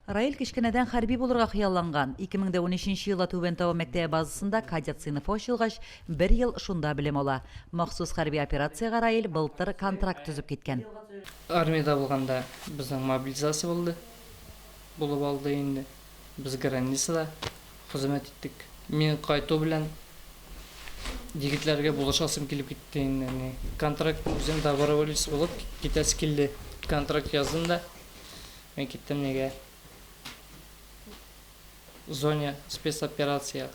Раил кечкенәдән хәрби булырга хыялланган. Ике мең дә унөченче елда Түбән Тау мәктәбе базасында кадет сыйныфы ачылгач, бер ел шунда белем ала. Махсус хәрби операциягә Раил былтыр контракт төзеп киткән. Армиядә булганда безнең мобилизация булды, булып алды инде. Без границада хезмәт иттек. Мин кайту белән егетләргә булышасым килеп китте инде. Ни, контракт үзем доброволец булып китәсе килде. Контракт яздым да, Мин киттем нигә зоне спецоперация.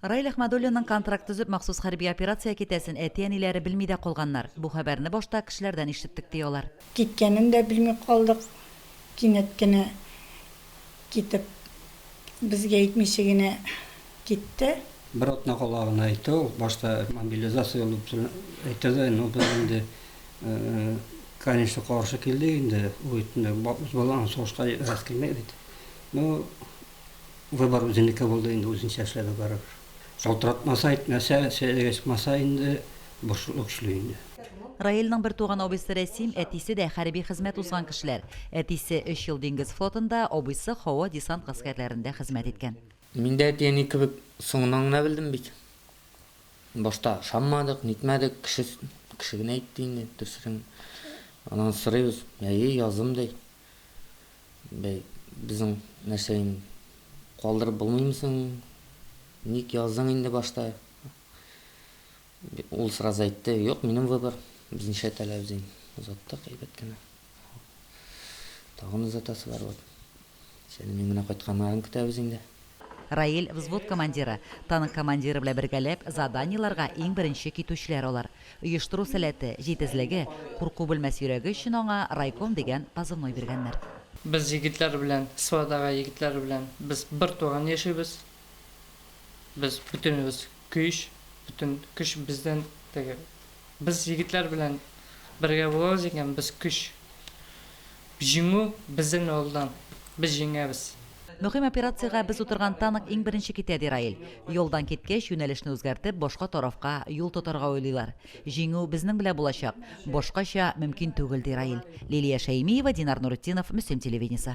Раил Әхмәдуллинның контракт төзеп махсус хәрби операция китәсен әти-әниләре белми дә калганнар. Бу хәбәрне башта кешеләрдән ишеттек, ди алар. Киткәнен дә белми калдык. Кинәт кенә китеп, безгә әйтмичә генә Китте. Бер атна кала гына әйтте ул, башта мобилизация ул дип әйтте дә, ну без инде, конечно, каршы килдек инде, ул бит инде үз балаң сугышка рәхәт килми бит. Ну, выбор үзенеке булды инде, үзенчә эшләде барыбер. Шалтыратмаса, әйтмәсә, сәясәткә чыкмаса инде, борчулы көчле инде. Раилнең бертуган абыйсы Рәсим, әтисе дә хәрби хезмәт узган кешеләр. Әтисе өч ел диңгез флотында, абыйсы һава-десант гаскәрләрендә хезмәт иткән. Мин дә әти-әни кебек соңыннан гына белдем бит. Башта ышанмадык, нитмәдек, кеше кеше генә әйтте инде, төсрен. Аннан сорыйбыз, әйе, язым, ди. Бәй, безнең нәрсә инде, калдырып булмыймы соң, ник яздың инде башта? Ул сразу әйтте, юк, минем выбор, без ничә теләбез, ди. Озаттык әйбәт кенә. Тагын озатасылар вот. Сәлим янына кайтканнарын көтәбез инде. Раил взвод командиры. Танк командиры белән бергәләп заданиеларга иң беренче китүчеләр алар. Оештыру сәләте, җитезлеге, курку белмәс йөрәге өчен аңа райком дигән позывной биргәннәр. Без егетләр белән, сводагы егетләр белән без бер туган яшибез. Без бөтенебез көч, бөтен көч бездән теге. Без егетләр белән бергә булабыз икән, без көч. Җиңү бездән алдан. Без җиңәбез. Мөһим операциягә без утырган танк иң беренче китә, ди Раил. Ялдан киткәч, юнәлешне үзгәртеп, башка тарафка юл тотарга уйлыйлар. Җиңү безнең белән булачак. Башкача мөмкин түгел, ди Раил. Лилия Шәймиева, Динар Нуретдинов, Мөслим телевидениесе.